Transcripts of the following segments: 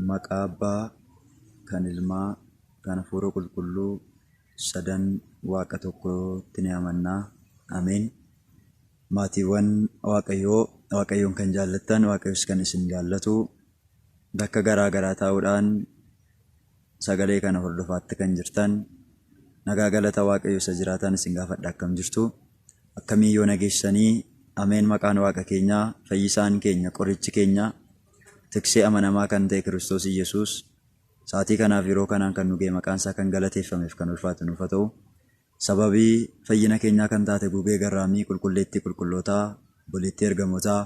Maqaa Abbaa, kan Ilmaa, kan Hafuura Qulqulluu, sadan Waaqa tokkootti ni amanna. Ameen. Maatiiwwan Waaqayyoo, Waaqayyoon kan jaallattan, Waaqayyos kan isin jaallatu, bakka garaa garaa taa'uudhaan Sagalee kana hordofaatti kan jirtaan nagaa galata waaqayyo isa jiraataan isin gaafadha akkam jirtu akkamii yoona geessanii ameen maqaan waaqa keenyaa fayyisaan keenya qorichi keenya tiksee amanamaa kan ta'e kiristoos iyyesuus saatii kanaaf yeroo kanaan kan nugee maqaan isaa kan galateeffameef kan ulfaatu nuuf haa ta'u sababii fayyina keenyaa kan taate gugee garraamii qulqulleettii qulqullootaa boleettii ergamootaa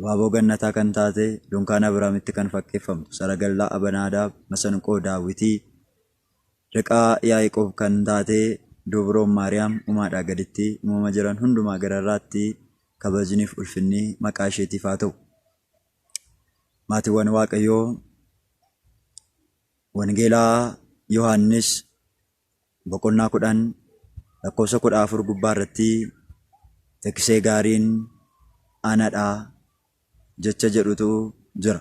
Waaboo Gannataa kan taate, dunkaana Abrahaamitti kan fakkeeffamtu saragallaa Abanaadaab, masanqoo Daawitii, riqaa Yaa'iqoob kan taate Duubroon Maariyaam umaadhaa gaditti umama jiran hundumaa gararraatti kabajniif ulfinni maqaa isheetiif haa ta'u. Maatiwwan Waaqayyoo Wangeelaa Yohaannis boqonnaa 10 lakkoofsa 14 gubbaa irratti tekisee gaariin ana dha jecha jedhutu jira.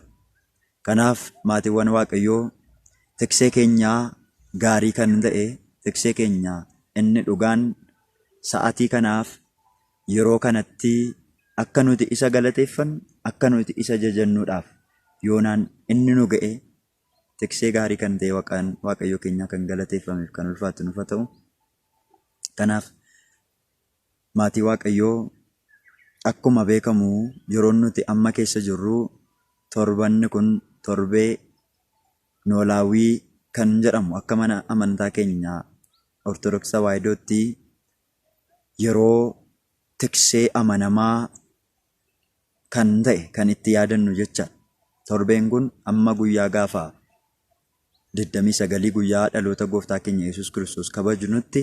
Kanaaf maatiiwwan Waaqayyoo tekisee keenya gaarii kan ta'e tekisee keenya inni dhugaan sa'atii kanaaf yeroo kanatti akka nuti isa galateeffannu akka nuti isa jajannuudhaaf yoonaan inni nu ga'e Tiksee gaarii kan ta'e waqaan Waaqayyoo keenyaa kan galateeffameef kan ulfaatu nuuf haa ta'u. Kanaaf maatii Waaqayyoo akkuma beekamu yeroon nuti amma keessa jirru torbanni kun torbee noolaawwii kan jedhamu akka mana amantaa keenya Ortodoksii Tawaahidootti yeroo tiksee amanamaa kan ta'e kan itti yaadannu jecha torbeen kun amma guyyaa gaafa 29 guyyaa dhaloota gooftaa keenya Yesuus Kiristoos kabajnutti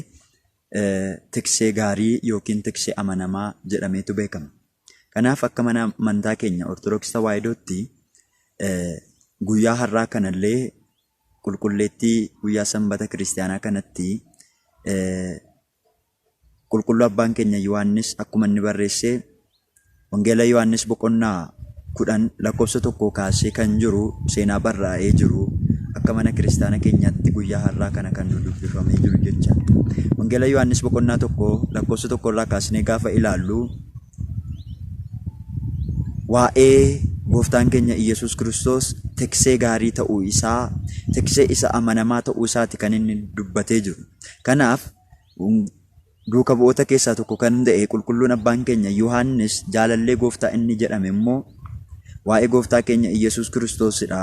tiksee gaarii yookiin tiksee amanamaa jedhameetu beekama. Kanaaf akka mana amantaa keenya Ortodoksii Tawaahidootti guyyaa har'aa kanallee qulqulleettii guyyaa sanbata kiristaanaa kanatti Qulqulluu Abbaan keenya Yohaannis akkuma inni barreesse Wangeela Yohaannis boqonnaa 10 lakkoofsa tokkoo kaasee kan jiru seenaa barraa'ee jiru akka mana kiristaana keenyaatti guyyaa har'aa kana kan nu dubbifamee jiru jecha. Wangeela Yohaannis boqonnaa tokko lakkoofsa tokko irraa kaasnee gaafa ilaallu waa'ee gooftaan keenya Iyyasuus Kiristoos teksee gaarii ta'uu isaa, teksee isa amanamaa ta'uu isaati kan inni dubbatee jiru. Kanaaf, duuka bu'oota keessaa tokko kan ta'e qulqulluun abbaan keenya Yohaannis jaalallee gooftaa inni jedhame immoo waa'ee gooftaa keenya Iyyasuus Kiristoosidha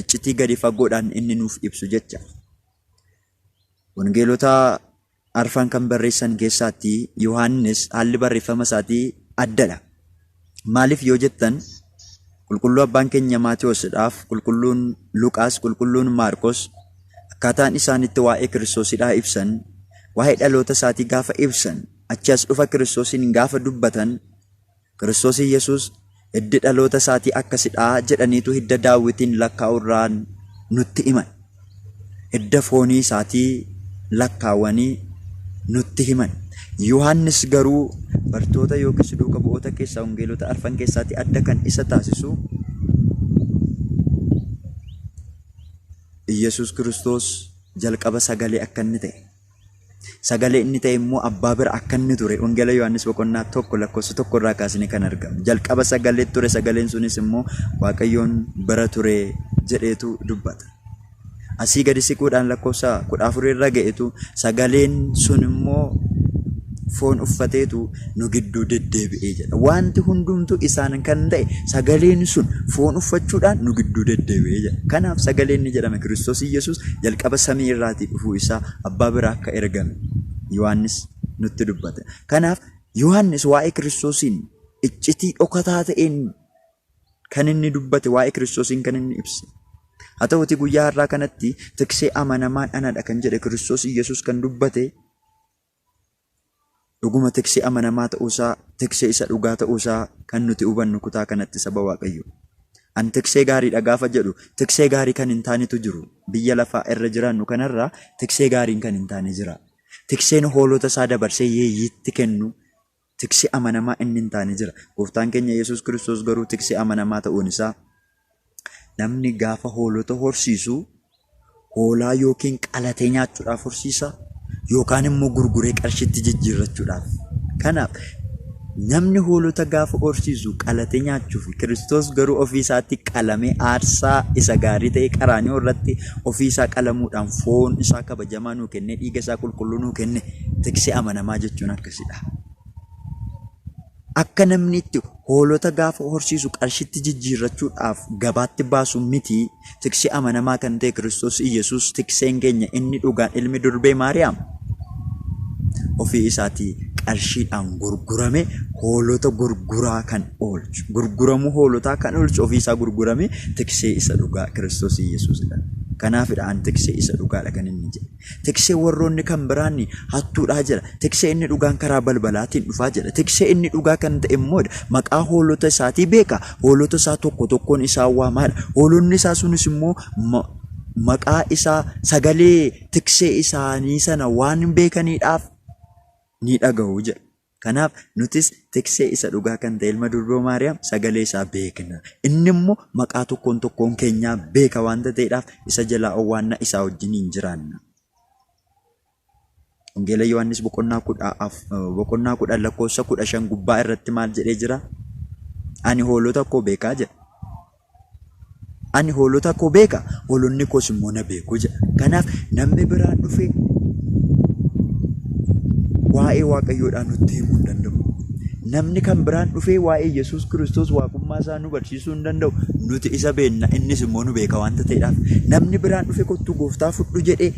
iccitii gadi fagoodhaan inni nuuf ibsu jecha. Wangeelota arfan kan barreessan keessaatti Yohaannis haalli barreeffama isaatii addadha. Maaliif yoo jettan qulqulluu abbaan keenya Maatewoosidhaaf qulqulluun Luqaas qulqulluun Maarqos akkaataan isaan itti waa'ee Kiristoosidhaa ibsan waa'ee dhaloota isaatii gaafa ibsan achi as dhufa Kiristoosiin gaafa dubbatan Kiristoosii Yesuus hiddi dhaloota isaatii akkasidhaa jedhaniitu hidda daawwitiin lakkaa'urraan nutti himan. hidda foonii isaatii lakkaawanii nutti himan. Yohaannis garuu bartoota yookiis duuka bu'oota keessaa wangeelota arfan keessaatii adda kan isa taasisu Iyyasuus Kiristoos jalqaba sagalee akka inni ta'e. Sagalee inni ta'e immoo abbaa bira akka inni ture Wangeela Yohaannis boqonnaa tokko lakkoofsa tokko irraa kaasine kan argamu. Jalqaba sagalee ture sagaleen sunis immoo Waaqayyoon bira ture jedheetu dubbata. Asii gadi siquudhaan lakkoofsa kudha afur irra ga'etu sagaleen sun immoo foon uffateetu nu gidduu deddeebi'ee jedha. Wanti hundumtuu isaan kan ta'e sagaleen sun foon uffachuudhaan nu gidduu deddeebi'ee jedha. Kanaaf sagaleen ni jedhame Kiristoos Iyyasuus jalqaba samii irraatii dhufuu isaa abbaa biraa akka ergame Yohaannis nutti dubbate. Kanaaf Yohaannis waa'ee Kiristoosiin iccitii dhokataa ta'een kan inni dubbate waa'ee Kiristoosiin kan inni ibse. Haa ta'uutii guyyaa har'aa kanatti tiksee amanamaan anadha kan jedhe Kiristoos Iyyasuus kan dubbate Dhuguma tiksee amanamaa ta'uu isaa, tiksee isa dhugaa ta'uu isaa kan nuti hubannu kutaa kanatti saba Waaqayyoo. An tiksee gaarii dha gaafa jedhu tiksee gaarii kan hin taanetu jiru. Biyya lafaa irra jiraannu kanarra tiksee gaariin kan hin taane jira. Tikseen hoolota isaa dabarsee yeeyyiitti kennu Tiksee amanamaa inni hin taane jira. Gooftaan keenya Yesuus Kiristoos garuu tiksee amanamaa ta'uun isaa namni gaafa hoolota horsiisu hoolaa yookiin qalatee nyaachuudhaaf horsiisa yookaan immoo gurguree qarshiitti jijjiirrachuudhaaf. Kanaaf namni hoolota gaafa horsiisu qalatee nyaachuuf Kiristoos garuu ofii isaatti qalamee aarsaa isa gaarii ta'e qaraanioo irratti ofii isaa qalamuudhaan foon isaa kabajamaa nuu kennee dhiiga isaa qulqulluu nuu kenne tiksee amanamaa jechuun akka Akka namni itti hoolota gaafa horsiisu qarshitti jijjiirrachuudhaaf gabaatti baasu miti, tiksi amanamaa kan ta'e Kiristoos Iyyasuus tikseen keenya inni dhugaan ilmi durbee Maariyaam ofii isaatii qarshiidhaan gurgurame hoolota gurguraa kan oolchu, gurguramuu hoolotaa kan oolchu ofii isaa gurgurame tiksee isa dhugaa Kiristoos Iyyasuusidha. Kanaafidha an tiksee isa dhugaadha kan inni jedhe. Tiksee warroonni kan biraan hattuudhaa jedha. Tiksee inni dhugaan karaa balbalaatiin dhufaa jedha. Tiksee inni dhugaa kan ta'e immoo maqaa hoolota isaatii beeka. Hoolota isaa tokko tokkoon isaa waamaadha. Hoolonni isaa sunis immoo maqaa isaa sagalee tiksee isaanii sana waan beekaniidhaaf ni dhaga'u jedha. Kanaaf nutis tiksee isa dhugaa kan ta'e ilma durboo Maariyaam sagalee isaa beekna. Inni immoo maqaa tokkoon tokkoon keenyaa beeka waanta ta'eedhaaf isa jalaa owwaanna isaa wajjiniin jiraanna. Wangeela Yohaannis boqonnaa kudha af- boqonnaa kudhan lakkoofsa kudha shan gubbaa irratti maal jedhee jira? Ani hoolota koo beekaa jedha. Ani hoolota koo beeka, hoolonni koos immoo na beeku jedha. Kanaaf namni biraa dhufee waa'ee Waaqayyoodhaa nutti himuu hin danda'u. Namni kan biraan dhufee waa'ee Yesuus Kiristoos waaqummaa isaa nu barsiisuu hin danda'u. Nuti isa beenna, innis immoo nu beeka waanta ta'eedhaaf. Namni biraan dhufee kottuu gooftaa fudhu jedhee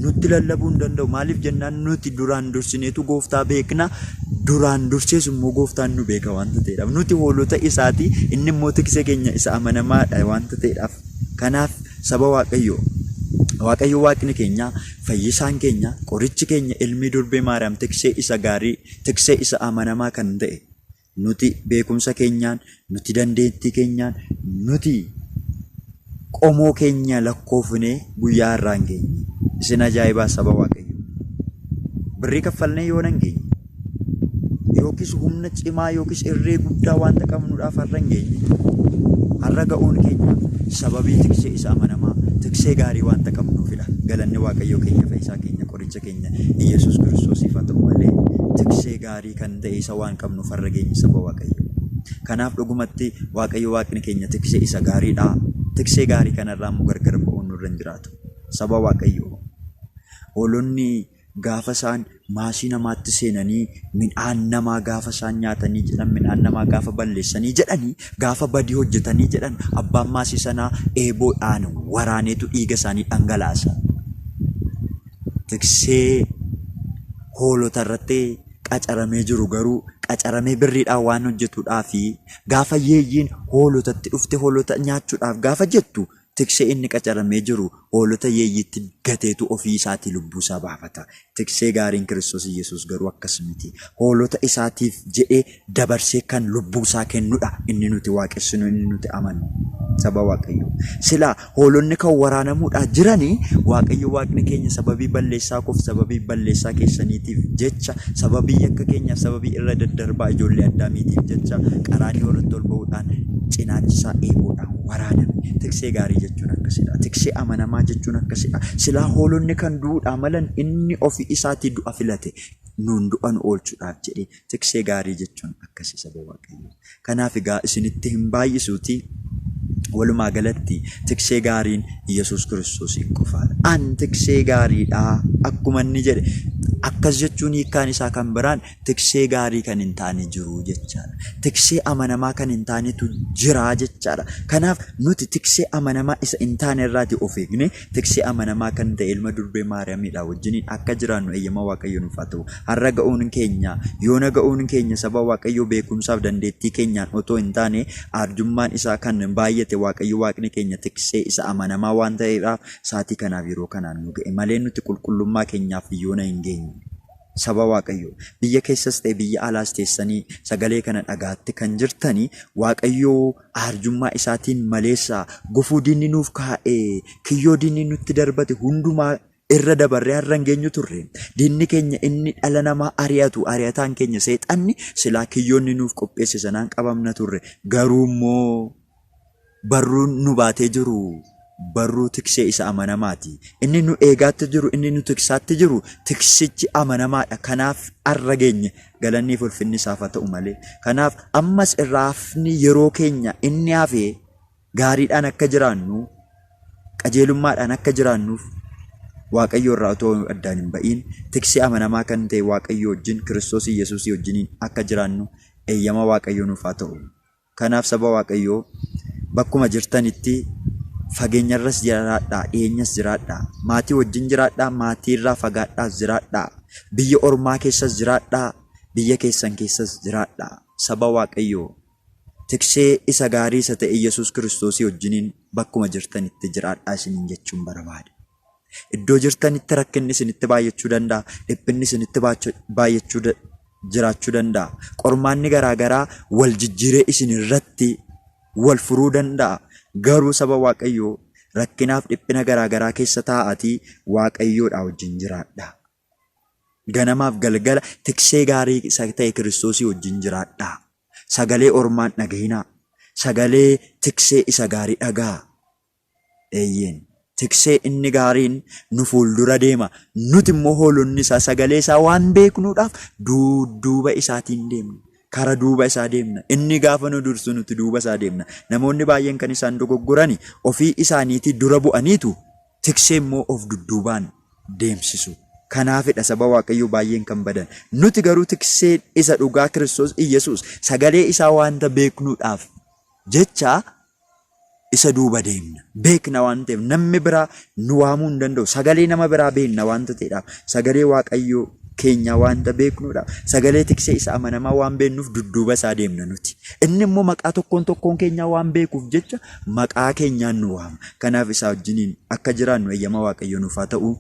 nutti lallabuu hin danda'u. Maaliif jennaan nuti duraan dursineetu gooftaa beekna. Duraan dursees immoo gooftaan nu beeka wanta ta'eedhaaf. Nuti hoolota isaati, inni immoo tiksee keenya isa amanamaadha wanta ta'eedhaaf. Kanaaf saba Waaqayyoo, Waaqayyo Waaqni keenya, fayyisaan keenya, qorichi keenya ilmii durbee Maariyaam tiksee isa gaarii, tiksee isa amanamaa kan ta'e. Nuti beekumsa keenyaan, Nuti dandeettii keenyaan nuti qomoo keenya lakkoofnee guyyaa irraa hin geenye. Isin ajaa'ibaa saba waaqayyo. Birrii kaffalnee yoo nan geenye. Yookiis humna cimaa yookiis irree guddaa wanta qabnuudhaaf har'a hin geenye. Har'a ga'uun keenya sababii tiksee isa amanamaa tiksee gaarii wanta qabnuufidha. Galanni waaqayyoo keenya fayyisaa keenya qoricha keenya Iyyasuus Kiristoosiif haa ta'u malee tiksee gaarii gaarii kan ta'e isa waan qabnuuf har'a geenye saba Waaqayyoo. Kanaaf dhugumatti Waaqayyo Waaqni keenya tiksee isa gaariidha. Tiksee gaarii kanarraa immoo gargar ba'uun nurra hin jiraatu. Saba Waaqayyoo. Hoolonni gaafa isaan maasii namaatti seenanii midhaan namaa gaafa isaan nyaatanii jedhan midhaan namaa gaafa balleessanii jedhanii gaafa badii hojjetanii jedhan abbaan maasii sanaa eeboodhaan waraaneetu dhiiga isaanii dhangalaasa. tiksee hoolota irratti qacaramee jiru garuu qacaramee birriidhaan waan hojjetudhaa fi gaafa yeeyyiin hoolotatti dhufte hoolota nyaachuudhaaf gaafa jettu tiksee inni qacaramee jiru hoolota yeeyyiitti gateetu ofii isaatii lubbuu isaa baafata. Tiksee gaariin Kiristoos Yesuus garuu akkas miti. Hoolota isaatiif jedhee dabarsee kan lubbuu isaa kennu dha. Inni nuti waaqessinu, inni nuti amannu. Saba Waaqayyoo. Silaa hoolonni kan waraanamuudhaa jirani Waaqayyo Waaqni keenya sababii balleessaa koof sababii balleessaa keessaniitiif jecha sababii yakka keenyaaf sababii irra daddarbaa ijoollee addaamiitiif jecha qaraanii irratti ol ba'uudhaan cinaachisaa eeboodhaan waraaname. Tiksee gaarii jechuun akkasidha. Tiksee amanamaa jechuun akkasidha. Silaa hoolonni kan du'uudhaa malan inni ofii isaatii du'a filate nuun du'a nu oolchuudhaaf jedhee Tiksee gaarii jechuun akkasi saba Waaqayyoo. Kanaaf egaa isinitti hin baay'isuutii walumaa galatti tiksee gaariin Yesuus Kiristoosiin qofaadha. An tiksee gaariidha akkuma inni jedhe akkas jechuun hiikkaan isaa kan biraan tiksee gaarii kan hin taane jiru jechaadha. Tiksee amanamaa kan hin taanetu jira jechaadha. Kanaaf nuti tiksee amanamaa isa hin taane irraati of eegne Tiksee amanamaa kan ta'e ilma durbee Maariyaamiidhaa wajjiniin akka jiraannu eeyyama Waaqayyo nuuf haa ta'u. Har'a ga'uun keenya, yoona ga'uun keenya saba Waaqayyoo beekumsaaf dandeettii keenyaan otoo hin taane aarjummaan isaa kan baay'ate Waaqayyo Waaqni keenya tiksee isa amanamaa waan ta'eedhaaf saatii kanaaf yeroo kanaan nu ga'e malee nuti qulqullummaa keenyaaf yoona hin geenye. Saba Waaqayyoo biyya keessas ta'e biyya alaas teessanii sagalee kana dhagaatti kan jirtanii Waaqayyoo aarjummaa isaatiin maleessa, gufuu diinni nuuf kaa'e, kiyyoo diinni nutti darbate hundumaa irra dabarree har'a hin geenyu turre. Diinni keenya inni dhala namaa ari'atu, ari'ataan keenya seexanni silaa kiyyoo inni nuuf qopheesse sanaan qabamna turre. Garuu immoo barruun nu baatee jiru barruu tiksee isa amanamaati. Inni nu eegaatti jiru, inni nu tiksaatti jiru, tiksichi amanamaadha. Kanaaf arra geenye. Galannii fi ulfinni isaaf haa ta'u malee. Kanaaf ammas irraa hafni yeroo keenya inni hafe gaariidhaan akka jiraannu, qajeelummaadhaan akka jiraannuuf Waaqayyoo irraa otoo addaan hin ba'iin tiksee amanamaa kan ta'e Waaqayyoo wajjin Kiristoos Yesuusii wajjiniin akka jiraannu eeyyama Waaqayyoo nuuf haa ta'u. Kanaaf saba Waaqayyoo bakkuma jirtanitti fageenyarras jiraadhaa, dhiyeenyas jiraadhaa, maatii wajjin jiraadhaa, maatiirraa fagaadhaas jiraadhaa, biyya ormaa keessas jiraadhaa, biyya keessan keessas jiraadhaa. Saba Waaqayyoo tiksee isa gaarii isa ta'e Yesuus Kiristoosii wajjiniin bakkuma jirtanitti jiraadhaa isiniin jechuun barbaada. Iddoo jirtanitti rakkinni isinitti baay'achuu danda'a, dhiphinni isinitti baay'achuu jiraachuu danda'a. Qormaanni garaa garaa wal jijjiiree isin irratti wal furuu danda'a. Garuu saba Waaqayyoo rakkinaaf dhiphina garaa garaa keessa taa'aatii Waaqayyoodhaa wajjin jiraadha. Ganamaaf galgala tiksee gaarii isa ta'e Kiristoosii wajjin jiraadha. Sagalee ormaan dhaga'inaa. Sagalee tiksee isa gaarii dhaga'a. Eeyyeen, tiksee inni gaariin nu fuuldura deema, nuti immoo hoolonni isaa sagalee isaa waan beeknuudhaaf duudduuba isaatiin deemna. Kara duuba isaa deemna. Inni gaafa nu dursu nuti duuba isaa deemna. Namoonni baay'een kan isaan dogoggorani ofii isaaniitii dura bu'aniitu tiksee immoo of dudduubaan deemsisu. Kanaafidha saba Waaqayyoo baay'een kan badan. Nuti garuu tikseen isa dhugaa Kiristoos Iyyasuus sagalee isaa waanta beeknuudhaaf jecha isa duuba deemna. Beekna waan ta'eef namni biraa nu waamuu hin danda'u. Sagalee nama biraa beekna waanta ta'edhaaf. Sagalee Waaqayyoo keenyaa waanta beeknudha. Sagalee tiksee isa amanamaa waan beeknuuf dudduuba isaa deemna nuti. Inni immoo maqaa tokkoon tokkoon keenyaa waan beekuuf jecha maqaa keenyaan nu waama. Kanaaf isaa wajjiniin akka jiraannu eeyyama Waaqayyoo nuuf haa ta'u.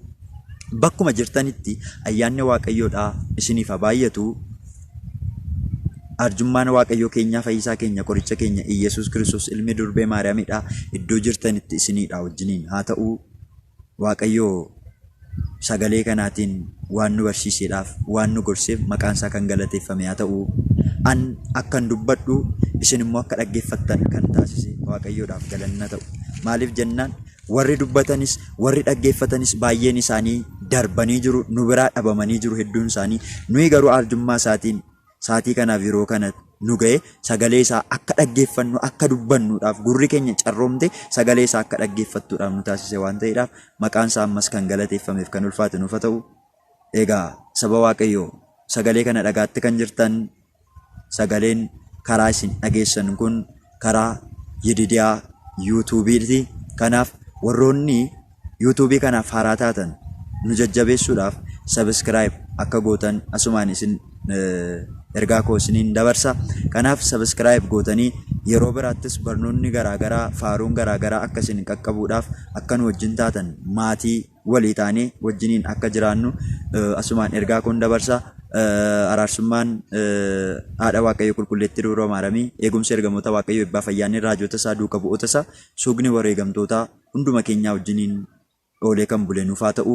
Bakkuma jirtanitti ayyaanni Waaqayyoodhaa isiniif haa baay'atu. Arjummaan Waaqayyoo keenyaa fayyisaa keenya qoricha keenya Iyyasuus Kiristoos ilmi durbee Maariyaamidha iddoo jirtanitti isiniidha wajjiniin haa ta'uu Waaqayyoo sagalee kanaatiin waan nu barsiiseedhaaf waan nu gorseef maqaan isaa kan galateeffame haa ta'uu an akkan dubbadhu isin immoo akka dhaggeeffattan kan taasise Waaqayyoodhaaf galanna ta'u maaliif jennaan Warri dubbatanis, warri dhaggeeffatanis baay'een isaanii darbanii jiru, nu biraa dhabamanii jiru hedduun isaanii. Nuyi garuu arjummaa isaatiin saatii kanaaf yeroo kana nu ga'e sagalee isaa akka dhaggeeffannu akka dubbannuudhaaf gurri keenya carroomte sagalee isaa akka dhaggeeffattuudhaaf nu taasise waan ta'eedhaaf maqaan isaa ammas kan galateeffameef kan ulfaate nuuf haa ta'u. Egaa saba Waaqayyoo sagalee kana dhagaatte kan jirtan Sagaleen karaa isin dhageessan kun karaa Yididiyaa Yuutuubiiti. Kanaaf warroonni Yuutuubii kanaaf haaraa taatan nu jajjabeessuudhaaf sabiskiraayib akka gootan asumaan isin ergaa koo isiniin dabarsa. Kanaaf sabiskiraayib gootanii yeroo biraattis barnoonni garaagaraa faaruun garaagaraa akka isin qaqqabuudhaaf akka nu wajjin taatan maatii walii taanee wajjiniin akka jiraannu asumaan ergaa koon dabarsa. Araarsummaan haadha Waaqayyo qulqulleetti dubroo maaramii eegumsi ergamoota Waaqayyo ebbaa fayyaanni raajota isaa duuka bu'oota isaa suugni wareegamtootaa hunduma keenyaa wajjiniin oolee kan bule nuuf haa ta'u.